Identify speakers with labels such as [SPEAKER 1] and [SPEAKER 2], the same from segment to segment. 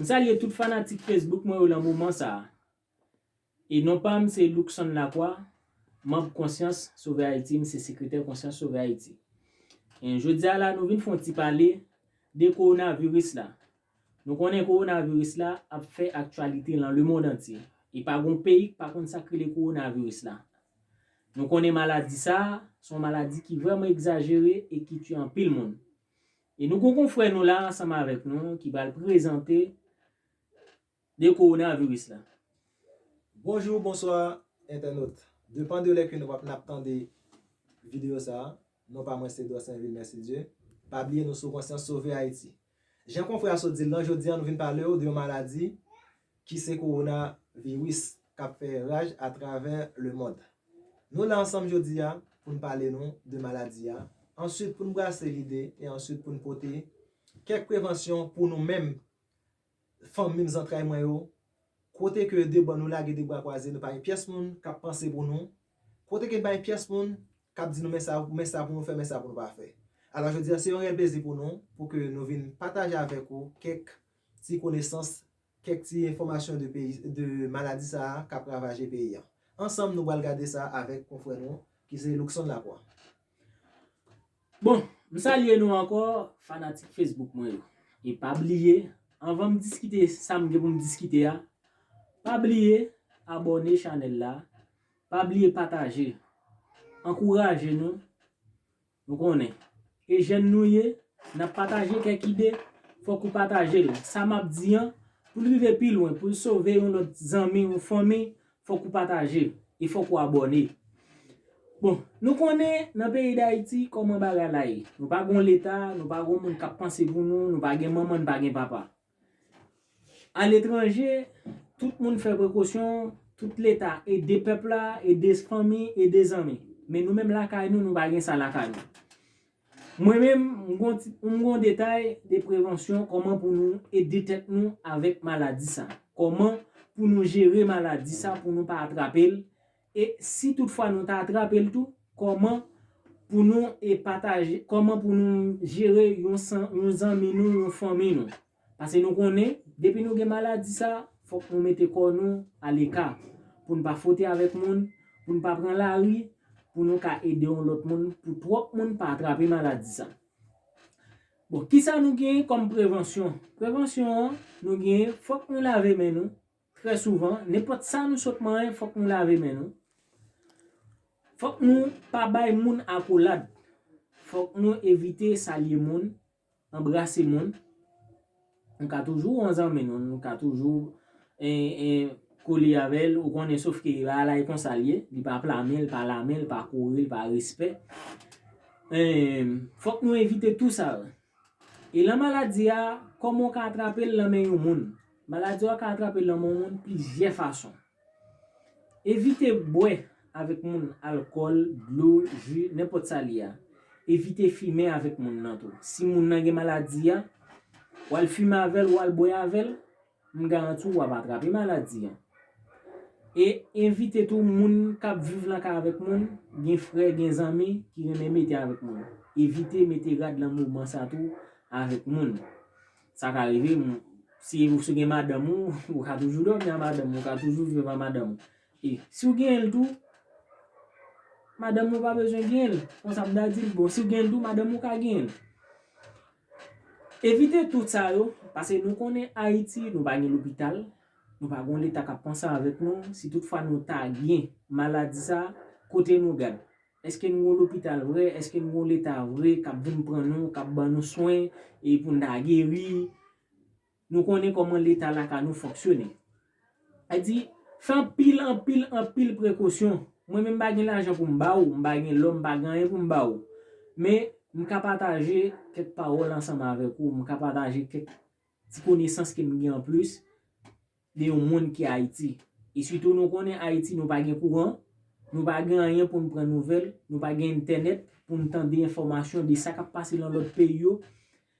[SPEAKER 1] M salye tout fanatik Facebook mwen yo lan moman sa a. E non pa m se Luckson Lacroix, manb Konsyans Sove Ayiti, m se sekretè Konsyans Sove Ayiti. E jodi a la nou vin fè yon ti pale de kowonaviris la. Nou konnen kowonaviris la ap fè aktyalite lan lemond antye. E pa gon peyi k pa konn sa k rele kowonaviris la. Nou konnen maladi sa a, s on maladi ki vrèman egzajere e ki tye anpil moun. E nou gon konfrè nou la ansanm avèk nou ki pral prezante de coronavirus la. Bonjou,
[SPEAKER 2] bonswa entènot. Depan de lè ke nou wap nap tande video sa, non pa mwen se Dorsainvil Mercidieu. Pa bliye nou sou konsyans sove Ayiti. Jan konfrè a sot dil lan, jodi an nou vin palew de yon maladi ki se kowona viris kap fè raj a travè le mond. Nou la ansanm jodi a pou n pale nou de maladi a, answit pou n brase lide e answit pou n pote kèk prevansyon pou nou menm fanmim zantray mwen yo, kote ke de bò nou lage de bra kwaze nou pa gen pyès moun kap panse pou nou, kote ke nou pa gen pyès moun kap di nou men sa men sa pou nou fè men sa pou nou pa fè. Alò jodi a se yon rèl plezi pou nou pou ke nou vin pataje avèk ou kèk ti konesans Kèk ti enfòmasyon de peyi de maladi sa a k ap ravaje peyi an. Ansanm nou pral gade sa avèk konfrè nou ki se Luckson Lacroix.
[SPEAKER 1] Bon, m salye nou ankò fanatik Facebook mwen yo. E pa bliye, anvan m diskite sa m gen pou m diskite a, pa bliye abòne chanèl la, pa bliye pataje. Ankouraje nou! Nou konnen. E jèn nou ye, n ap pataje kèk ide, fòk ou pataje l. Sa m ap di an, pou l rive pi lwen, pou l sove yon lòt zanmi ou fanmi, fòk ou pataje. E fòk ou abòne. Bon, nou konnen nan peyi Dayiti kòman bagay la ye. Nou pa gon Leta, nou pa gon moun k ap panse pou nou, nou pa gen manman, n pa gen papa. Aletranje, tout moun fè prekosyon, tout leta ede pèp la, ede fanmi, ede zanmi. Men nou menm lakay nou, nou pa gen sa lakay nou. Mwen menm, m gon detay de prevansyon kòman pou nou ede tèt nou avèk maladi sa. Kòman pou nou jere maladi sa pou nou pa atrape l. E si tout fwa nou ta atrape l tou, kòman pou nou e pataje, kòman pou nou jere yon san, yon zanmi nou, yon fanmi nou. Pase nou konnen, depi nou gen maladi sa, fòk nou mete kò nou a leka, pou n pa fwote avèk moun, pou n pa pran lari, pou nou ka ede yon lòt moun, pou twòp moun pa atrape maladi sa. Bon, kisa nou genyen kòm prevansyon? Prevansyon an, nou genyen, fòk nou lave men nou, Trè souvan, nenpòt sa nou sot manyen fòk nou lave men nou, fòk nou pa bay moun akolad, fòk nou evite salye moun, anbrase moun, nou ka toujou wè yon zanmi nou, nou ka toujou kole avè l, ou konnen sof ke bagay la e konsa l ye, li pa pla men, li pa la men, li pa kouri, li pa respè, fòk nou evite tou sa yo. Elan maladi a, kòman w ka atrape l nan men yon moun? Maladi a ou ka atrape l nan men yon moun plizyè fason. Evite bwè avèk moun alkòl, dlo, ji, nenpòt sa li a. Evite fimen avèk moun nan tou. Si moun nan gen maladi a, w al fimen avè l, w al bwè avè l. M garanti w wap atrape maladi an. E evite tou moun kap viv nan kay avèk moun, gen frè, gen zanmi ki renmen mete avèk moun. Evite mete rad nan moman sa tou avèk moun. Sa ka rive, si ou se gen madanm ou, ou ka toujou dòmi a madanm ou, ou ka toujou viv a madanm ou. E si ou genyen l tou, madanm ou pa bezwen genyen l. Konsa m ta di l. Bon, si ou genyen l tou, madanm ou ka genyen l. Evite tout sa yo, pase nou konnen Ayiti nou pa gen lopital, nou pa gon leta kap panse avèk nou, si tout fwa nou ta gen maladi sa, kote nou gad? Eske nou gon lopital vre, eske nou gon leta vre kap vin pran nou, kap ban nou swen e poun ta geri? Nou konnen kòman leta lakay nou fonksyone. Sa di, fè anpil, anpil, anpil prekosyon. Mwen menm m pa gen lajan pou m ba ou, m pa gen lò, m pa gen anyen pou m ba ou. Men, m ka pataje kèk pawòl ansanm avèk ou, m ka pataje kèk ti konesans ke m gen anplis. de yon moun ki Ayiti. E sitou nou konnen Ayiti nou pa gen kouran, nou pa gen anyen pou n pran nouvèl, nou pa gen entènèt pou n tande enfòmasyon de sa k ap pase nan lòt peyi yo.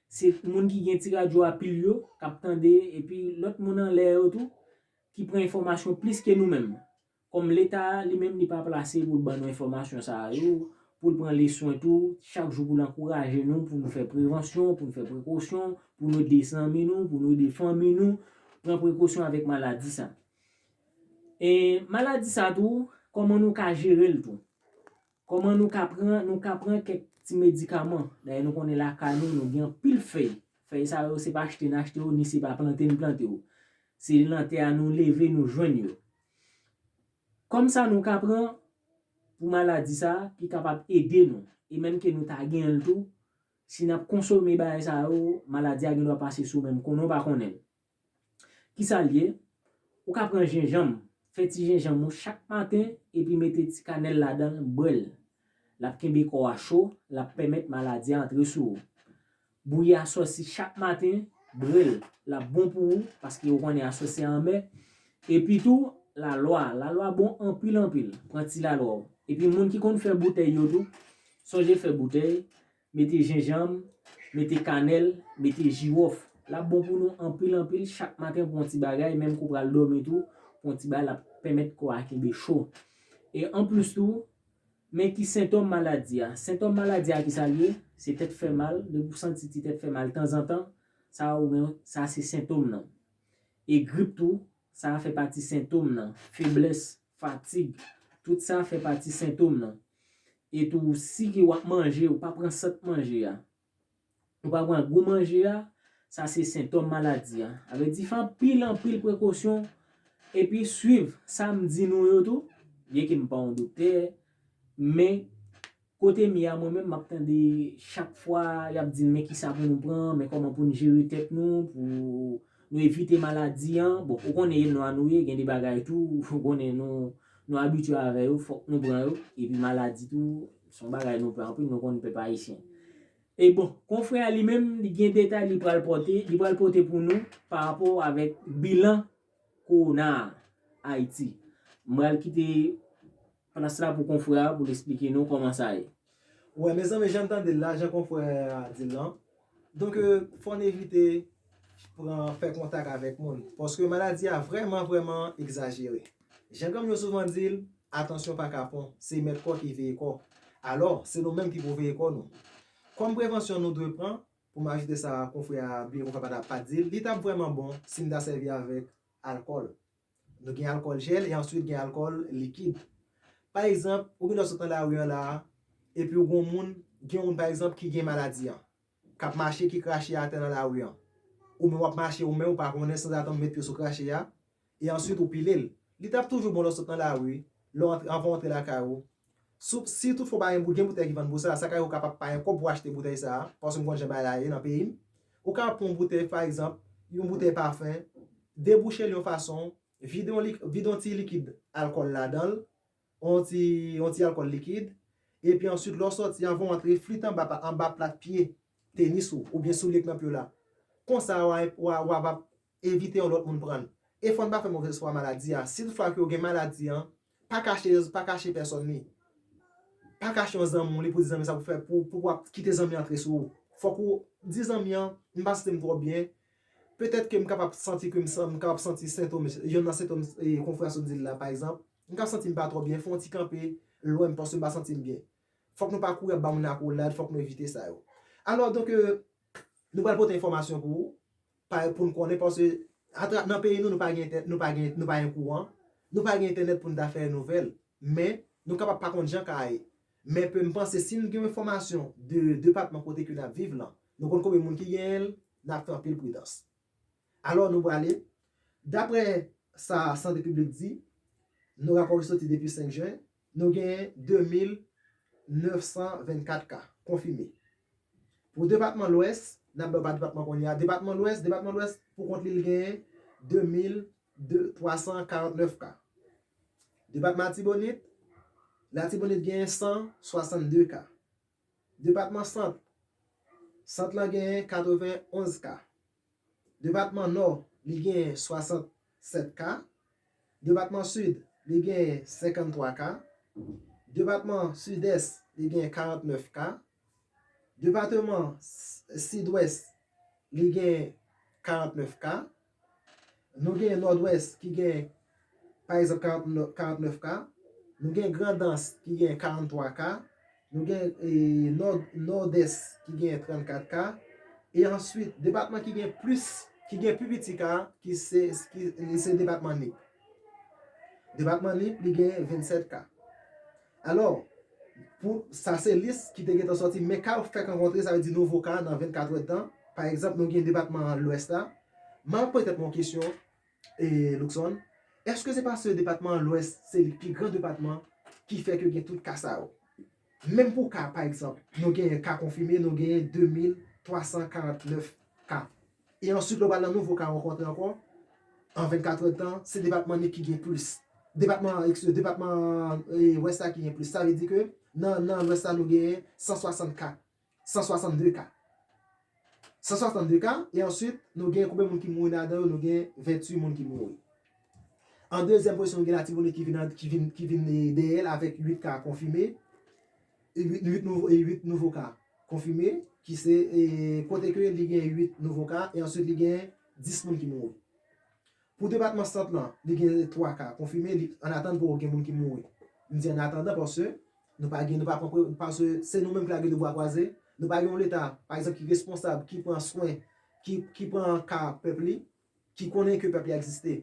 [SPEAKER 1] Se moun ki gen ti radyo a pil yo k ap tande epi lòt moun anlè yo tou ki pran enfòmasyon plis ke nou menm. Kòm leta a li menm li pa plase pou l ban nou enfòmasyon sa a yo, pou l pran li swen tou, chak jou pou l ankouraje nou pou nou fè prevansyon, pou nou fè prekosyon, pou nou ede zanmi nou, pou nou ede fanmi nou, pran prekosyon avèk maladi sa. E maladi sa tou, kòman nou ka jere l tou. Kòman nou ka pran, nou ka pran kèk ti medikaman. Dayè nou konnen lakay nou, nou gen anpil fèy. Fèy sa yo se pa achte n achte yo, ni se pa plante n plante yo. Se nan tè a nou leve nou jwenn yo. Kòm sa nou ka pran pou maladi sa ki kapab ede nou e menm ke nou ta genyen l tou, si nap konsome bagay sa yo, maladi a gendwa pase sou menm konnen w pa konnen l. Kisa l ye? Ou ka pran jenjanm, fè ti jenjanm ou chak maten epi mete ti kanèl ladan l, bwè l. Lap kenbe kò a cho, lap pèmèt maladi a antre sou ou. Bouyi aswè si chak maten, bre l, l ap bon pou ou, paske ou konnen aswè se anmè. Epi tou, lalwa, lalwa bon anpil anpil, pran ti lalwa w. Epi moun ki konn fè boutèy yo tou, sonje fè boutèy, mete jenjanm, mete kanèl, mete jiwòf. L ap bon pou nou anpil anpil, chak maten pran w ti bagay, menm ke w pral dòmi tou, pran w ti bagay l ap pèmèt kò a kenbe cho. E anplis tou, Men ki sentòm maladi a. Sentòm maladi a ki sa l ye? Se tèt fè mal, depi w santi ti tèt fè mal tanzantan, sa ou gen, sa se sentòm nan. E grip tou, sa a fè pati sentòm nan. Feblès, fatig, tout sa fè pati sentòm nan. E tou si ke w ap manje, ou pa pran sant manje a. Ou pa pran gou manje a, sa se sentòm maladi a. A vle di fè anpil anpil prekosyon epi swiv sa m di nou yo tou, byen ke m pa yon doktè, men kote m ye a mwen menm m ap tande chak fwa y ap di n men kisa pou nou pran, men kòman pou n jere tèt nou, pou nou evite maladi an. Bon, ou konnen e nwa nou ye, gen de bagay tou ou konnen nou abitye avè yo, fòk nou pran yo, epi maladi tou. Se yon bagay nou pè anpil, nou konn pèp ayisyen. E bon, konfrè a li menm, li gen detay li pral pote, li pral pote pou nou pa rapò avèk bilan kowona a Ayiti. M pral kite plas la pou konfrè a pou l esplike nou kòman sa ye. Wè mezanmi
[SPEAKER 2] jan n tande l la, jan konfrè a di l lan, Donk fò n evite pran fè kontak avèk moun paske maladi a vrèman vrèman egzajere. Jan granm yo souvan di l, atansyon pa kapon, se mèt kò ki veye kò. Alò, se nou menm ki pou veye kò nou. Kòm prevansyon nou dwe pran, pou m ajoute sa konfrè a byen konfè pa t di l, li t ap vrèman bon si n ta sèvi avèk alkòl. Nou gen alkòl jèl e answit gen alkòl likid. Pa egzanp, ou gendwa sot nan lari an la a, epi ou gen yon moun, gen yon moun pa egzanp ki gen maladi an, k ap mache ki krache atè nan lari an. Ou menm w ap mache ou menm ou pa konnen sanzatann ou met pye sou krache a, e answit ou pile l. Li t ap toujou bon lè w sot nan lari, lè w antre, anvan w antre lakay ou, Soup sitou fo bagay bout gen boutèy ki vann pou sa, sa ka yo kapab pa gen kòb pou achte boutèy sa, paske m konn jan bagay la ye nan peyi m. Ou kapab pran yon boutèy pa egzanp, yon boutèy pafen, debouche l yon fason, vide yon lik, vide yon ti likid alkòl ladan l, yon ti, yon ti alkòl likid, epi answit lè w sòti anvan w antre flit anba pa, anba plat pye tenis ou oubyen soulye k nan pye w la. Konsa wa, wa, wa va Evite yon lòt moun pran l. E fò n pa fè movèz fwa maladi a. Si toutfwa ke ou gen maladi an, pa kache pa kache pèsòn li. Pa kache yon zanmi w li pou di zanmi sa pou fè pou pou wap kite zanmi an antre sou ou. Fòk ou di zanmi an, m pa santi m twò byen, petèt ke m kapab santi ke m san m kapab santi sentom yonn nan sentom konfrè a sot di l la pa egzanp. M ka santi m pa twò byen, fè yon ti kanpe lwen m paske m pa santi m byen. Fòk nou pa kouri ap ba moun akolad, fòk nou evite sa yo. Alò donk, Nou pral pote enfòmasyon pou ou, pou n konnen paske atra nan peyi nou nou pa gen entè nou pa gen nou pa gen kouran, nou pa gen entènèt pou n ta fè nouvèl men nou kapab pa konn jan ka ye men pe m panse si n gen yon enfòmasyon de depatman kote ke n ap viv lan nou konn konbyen moun ki genyen l n ap fè anpil pridans. Alò nou prale daprè sa sante piblik di nou rapò ki soti depi 5 jen Nou genyen 2924 ka konfime. Pou depatman Lwès, n ap bay w pa depatman kounye a, depatman Lwès, depatman Lwès pou kont li l genyen 2349 ka. Depatman Atibonit, Latibonit genyen 162 ka. Depatman Sant, Sant lan genyen 91 ka. Depatman Nò, li genyen 67 ka. Depatman Sid, li genyen 53 ka. Depatman Sidès, li genyen 49 ka. Depateman Sidwès, li genyen 49 ka. Nou genyen Nòdwès ki genyen. pa egzanp 49 ka, nou gen Grandans ki gen 43 ka, nou gen Nòdès ki gen 34 ka, e answit depatman ki gen plis, ki gen pi piti ka, ki se, li se depatman Nip. Depatman Nip li gen 27 ka. Alò, pou, sa se lis ki te gentan sòti, men ka yo fèk rankontre, sa vle di nouvo ka nan 24 èdtan, pa egzanp nou gen depatman Lwès la, m ap poze tèt mwen yon kesyon, Luckson, Èske se paske depatman Lwès se li pi gran depatman ki fè ke gen tout ka sa yo? Menm pou ka, pa egzanp, nou genyen ka konfime, nou genyen 2349 ka. E answit lè w pral nan nouvo ka ankò an, an 24 è tan, se depatman Nip ki gen plis. Depatman, ekskize, depatman Lwès la ki gen plis. Sa vle di ke nan Lwès la nou genyen 160 ka. 162 ka. 162 ka, e answit nou gen konbe moun ki mouri nan adan yo, nou gen 28 moun ki mouri. An dezyèm pozisyon nou gen Latibonit ki vin an, ki vin, ki vin dèyèl avèk 8 ka konfime, 8, 8 nouvo, 8 nouvo ka konfime, ki se, e kote ke li gen 8 nouvo ka, e answit li gen 10 moun ki mouri. Pou depatman Sant lan, li gen 3 ka konfime, li an atann poko gen moun ki mouri. M di an atandan paske nou pa gen, nou pa pran pre, paske se nou menm ki la gen 2 bwa kwaze, nou pa gen yon leta, pa egzanp ki responsab, ki pran swen, ki ki pran ka pèp li, ki konnen ke pèp li egziste.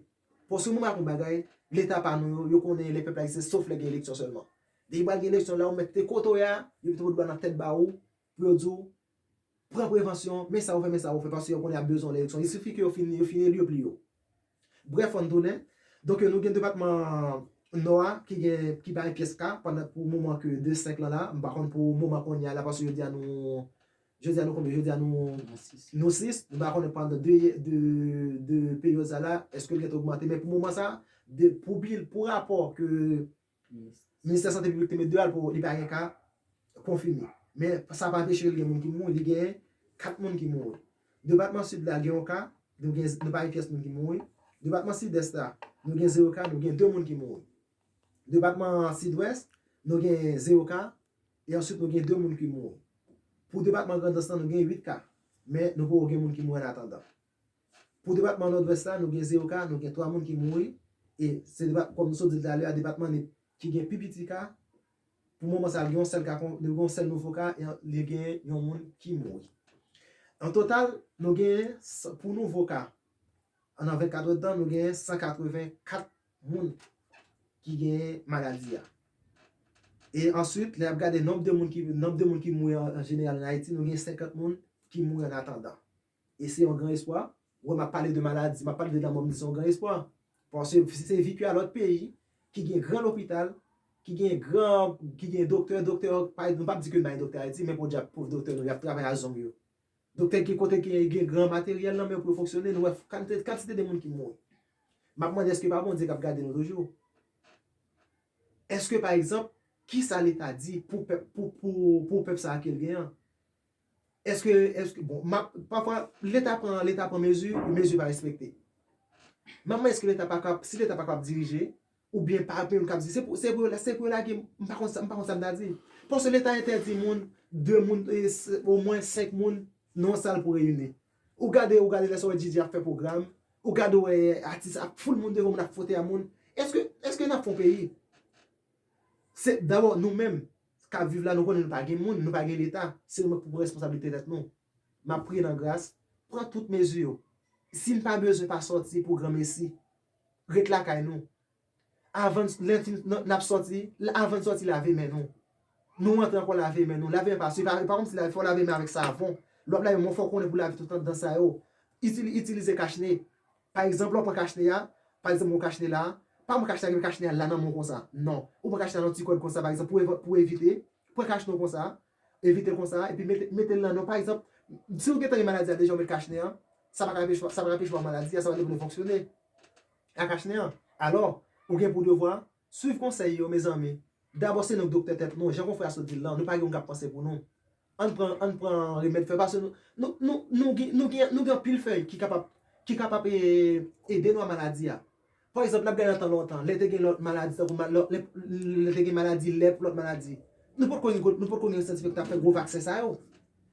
[SPEAKER 2] Paske mwen map yon bagay, leta pa nou yo, yo konnen lè pèp la egziste sof lè gen eleksyon sèlman. Depi pral gen eleksyon la ou mèt te kote w ye a, yo mete yon doua nan tèt ba ou, pou yo di w pran prevansyon, men sa ou fè, men sa ou fè, paske yo konnen y ap bezwen w nan eleksyon. Il sifi ke yo fin yo fin eli yo pli yo. Brèf fò n tounen. Donk yo nou gen depatman Nò a ki gen ki pa gen pyès ka pandan pou moman ke 2 5 lan la, m pa konn pou moman kounye a la paske jodi a nou jodi a nou konbyen jodi a nou nou 6, m pa konnen pandan 2 de de peryòd sa la èske l gen te ogmante men pou moman sa pou bil pou rapò ke Ministè Sante Piblik te met 2 al pou li pa gen ka konfime. Men sa pa anpeche li gen moun ki mouri, li genyen 4 moun ki mouri. Depatman Sid la gen yon ka, nou gen, nou pa gen pyès moun ki mouri. Depatman Sidès la, nou gen 0 ka, nou gen 2 moun ki mouri. Depatman Sidwès, nou gen 0 ka, e answit nou gen 2 moun ki mouri. Pou depatman Grandans lan nou gen 8 ka, men nou poko gen moun ki mouri an atandan. Pou depatman Nòdwès la, nou gen 0 ka, nou gen 3 moun ki mouri, e se depat, kòm nou sot di l talè a, depatman Nip ki gen pi piti ka, pou moman sa a gen yon sèl ka, gen yon sèl nouvo ka, e li gen yon moun ki mouri. An total, nou genyen, pou nouvo ka, nan 24 èdtan, nou genyen 184 moun ki genyen maladi a. E answit, lè y ap gade nonb de moun ki, nonb de moun ki mouri an jeneral an Ayiti, nou gen 50 moun ki mouri an atandan. E se yon gran espwa. Wè map pale de maladi, map pale de lanmò m di se yon gran espwa. Paske si se vi ke a lòt peyi ki gen gran lopital, ki gen gran, ki gen doktè, doktè yo pa, nou pap di ke bay doktè Ayiti men podyab pov doktè nou yap travay a zong yo. Doktè gen kote ke yo gen gran materyèl nan men yo pou yo fonksyone, nou wè kantite, kantite de moun ki mouri. Map mande eske pa Bondye kap gade nou toujou? Eske pa egzanp, kisa leta di pou pèp, pou, pou, pou pèp sa a kel gen an? Eske, eske, bon, map, pafwa, leta pran, leta pran mezi, mezi pa respekte. Map mande eske leta pa kap, si leta pa kap dirije, ou byen pa gen moun kap di, se pou, se pou yo, se pou yo lage, m pa konn sa, m pa konn sa m ta di. Paske leta entèdi moun, de moun, o mwen 5 moun nan yon sal pou reyini. Ou gade, ou gade lè sa w wè JJ ap fè pwogram, ou gade ou wè atis ap foul moun devan moun ap fwote a moun. Eske, eske nap fè yon peyi? Se, dabò nou menm, k ap viv la nou konnen nou pa gen moun, nou pa gen leta, se nou menm k pou pran responsablite tèt nou. M ap priye nan gras, pran tout mezi yo. Si n pa bezwen pa sòti pou granmesi, ret lakay nou. Avan n, lè n fin, n ap sòti, avan n sòti lave men nou. Nou antre ankò lave men nou, lave men pa sifi, e pa kòmsi lave, fò w lave men avèk savon. Lè w ap lave men w fò w konnen pou w lave tout anndan sa yo. Itilize kachne. Pa egzanp lè w pran kachnen a, pa egzanp mwen kachnen la a, pa pran kachnen a ki men kachnen a la nan men w konsa. Non. Ou pran kachnen a nan yon ti kòd konsa pa egzanp pou evan, pou evite. Pran kachnen w konsa, evite l konsa epi mete, mete l nan men w. Pa egzanp, si w gentan gen maladi a deja ou met kachnen an, sa pa ka anpeche, sa pa ka anpeche w avè maladi a, sa pa ka anpeche w fonksyone ak kachnen an. Alò, ou gen pou devwa Swiv konsèy yo mezanmi. Dabò se nou k doktè tèt nou, jan konfrè a sot di l lan, nou pa gen moun k ap panse pou nou. Ann pran ann pran remèd fè paske nou nou nou nou gen nou gen nou gen anpil fèy ki kapab ki kapab e ede nou a maladi a. Pa egzanp n ap gade nan tan lontan lè te gen lòt maladi tankou ma lò lè lè te gen maladi lèp lòt maladi nou potko gen nou potko gen syantifik k t ap fè gwo vaksen sa yo.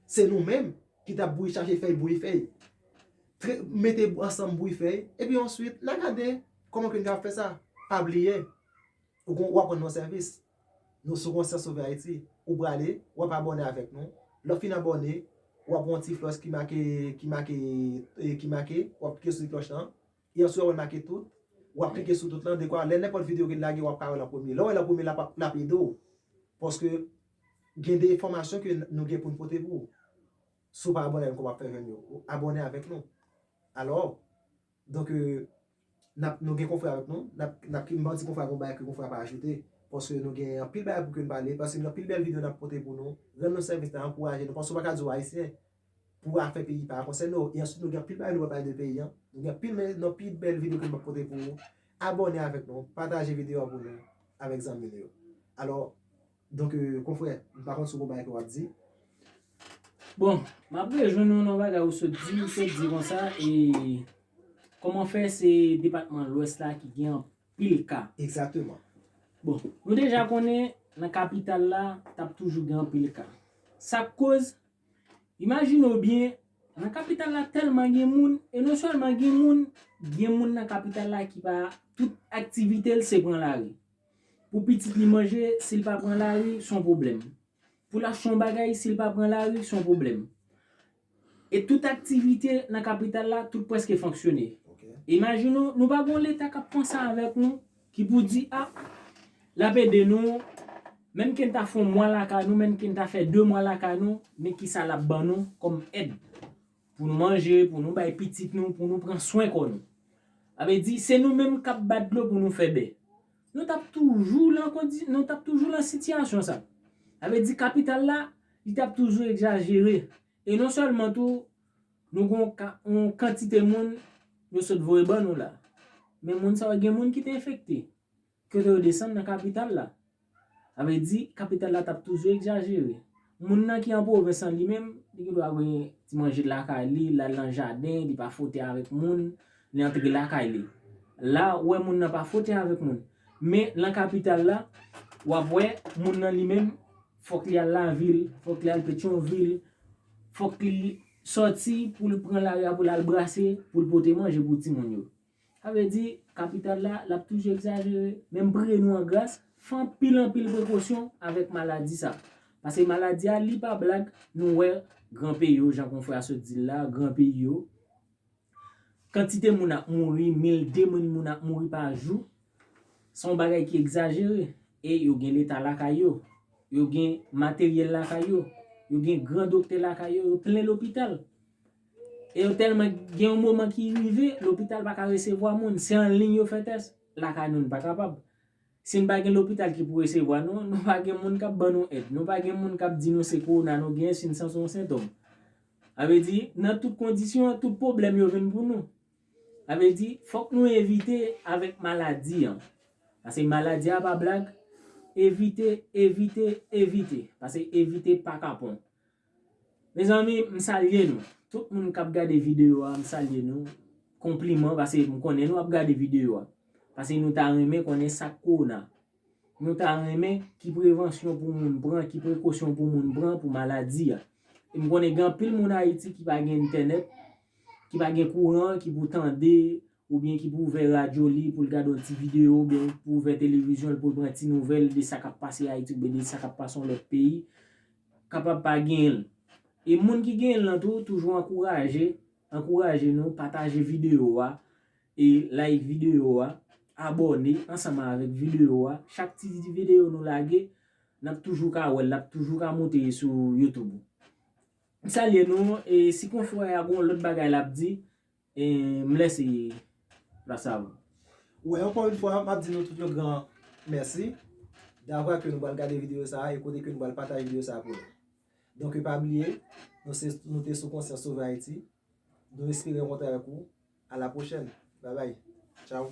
[SPEAKER 2] Se nou menm ki t ap bouyi chache fèy bouyi fèy tre mete ansanm bouyi fèy epi answit n a gade Kòman ke n ka fè sa? Pa bliye, ou gon, w ap rann yon sèvis. Nou sou Konsyans Sove Ayiti. Ou prale, w ap abòne avèk nou. Lè w fin abòne, w ap wè yon ti flòch ki make, ki make, ki make, w ap klike sou ti klòch lan. E answit w ap wè l make tout. W ap klike sou tout lan, dekwa lè nenpòt videyo ke n lage, w ap ka wè l an premye. Lè w wè l an premye, l ap, l ap ede w. Paske gen de enfòmasyon ke nou gen pou n pote pou ou. Si w pa abòne avèk nou, kòman w ap fè jwenn yo? Abòne avèk nou. Alò. Donk, nap, nou gen konfrè avèk nou, nap, nap ki, m'pa di konfrè a gon bagay ke konfrè a pa ajoute, paske nou gen anpil bagay pou ke nou pale, paske gen anpil bèl video nap pote pou nou, rann nou sèvis nan ankouraje nou, paske ou pa ka di ou ayisyen, pou afè peyi pa konsène ou, e answit nou gen anpil bagay nou pral pale de peyi an, nou gen anpil men, nou anpil bèl video ke nou pral pote pou ou, abòne avèk nou, pataje video a pou nou, avèk zanmi nou yo. Alò. Donk konfrè, m pa konn si w konn bagay ke w ap di.
[SPEAKER 1] Bon, m ap rejwenn ou nan bagay ou sot di, ou sot di konsa e kòman fè se depatman lwès la ki gen anpil ka? Egzakteman.
[SPEAKER 2] Bon,
[SPEAKER 1] nou deja konnen nan kapital la t ap toujou gen anpil ka. Sa k koz? Imajine w byen, nan kapital la tèlman gen moun, e non sèlman gen moun, gen moun nan kapital la ki pa, tout aktivite l se pran lari. Pou pitit li manje, si l pa pran lari, s on pwoblèm. Pou l achte yon bagay, si l pa pran lari, s on pwoblèm. E tout aktivite nan kapital la, tout prèske fonksyone. Imajine w, nou pa gen yon Leta k ap panse avèk nou, ki pou di, a, l ap ede nou, menm ke n ta fè yon mwa lakay nou, menm ke n ta fè de mwa lakay nou, men kisa l ap ban nou kòm èd. Pou nou manje, pou nou bay pitit nou, pou nou pran swen kò nou. Sa vle di, se nou menm k ap bat dlo pou nou fè bè. Nou t ap toujou lan kondi, nou t ap toujou lan sitiyasyon sa. Sa vle di kapital la, li t ap toujou egzajere. E non sèlman tou, nou gen yon kantite moun yo sot voye ban nou la. Men moun sa yo gen moun ki te enfekte. Kote yo desann nan kapital la. Sa vle di, kapital la t ap toujou egzajere. Moun nan ki an pwovens lan li menm, li gen dwa gen ti manje lakay li, l al nan jaden, li pa fwote avèk moun, li antre lakay li. La, ou wè moun nan pa fwote avèk moun. Men, nan kapital la, w ap wè, moun nan li menm, fòk li al lavil, fòk li al Petyonvil, fòk li sòti pou l pran lari a pou l al brase, pou l pote manje pou timoun yo. Sa vle di, kapital la, l ap toujou egzajere. Men m priye nou an gras, fè anpil anpil prekosyon avèk maladi sa. Pase maladi a, li pa blag, nou wè gran peyi yo, jan konfrè a sot di l la, gran peyi yo, kantite moun ap mouri, mil, demil moun ap mouri pa jou, se yon bagay ki egzajere. E yo gen Leta lakay yo, yo gen materyèl lakay yo, yo gen gran doktè lakay yo, yo plen lopital. E yo tèlman gen yon moman ki rive, lopital pa ka resevwa moun, se an liy yo fè tès, lakay nou nou pa kapab. Si nou pa gen lopital ki pou resevwa nou, nou pa gen moun k ap ban nou èd, nou pa gen moun k ap di nou se kowona nou genyen si nou santi yon sentòm. Sa vle di, nan tout kondisyon, tout pwoblèm yo vin pou nou. Sa vle di, fòk nou evite avèk maladi an. Pase maladi a pa blag, evite, evite, evite. Pase evite pa kapon. Mezanmi m salye nou tout moun kap gade video a m salye nou konpliman pase m konnen nou ap gade video a pase nou ta renmen konnen sak kowona nou ta renmen ki prevansyon pou moun pran ki prekosyon pou moun pran pou maladi a e m konnen gen anpil moun ayiti ki pa gen entènèt ki pa gen kouran ki pou tande oubyen ki pou ouvè radyo li pou l gade yon ti videyo oubyen ki pou ouvè televizyon l pou l pran ti nouvèl de sa k ap pase Ayiti oubyen de sa k ap pase yon lòt peyi, kapab pa genyen l. E moun ki genyen l lan tou, toujou ankouraje, ankouraje nou, pataje videyo a, e like videyo a, abòne ansanm avèk videyo a, chak ti videyo nou lage, n ap toujou ka wè l, l ap toujou ka moute sou YouTube ou. M salye nou, e si konfrè a gen yon lòt bagay l ap di, M lè se la sav. Wè ankò
[SPEAKER 2] yon fwa map di nou tout yon gran mèsi davwa ke nou pral gade video sa e kote ke nou pral pataje video sa pou nou. Donke pa bliye nou se nou te sou konsyans sove Ayiti. Nou espere rankontre avèk ou. A la pwochèn. Babay. Tchaw.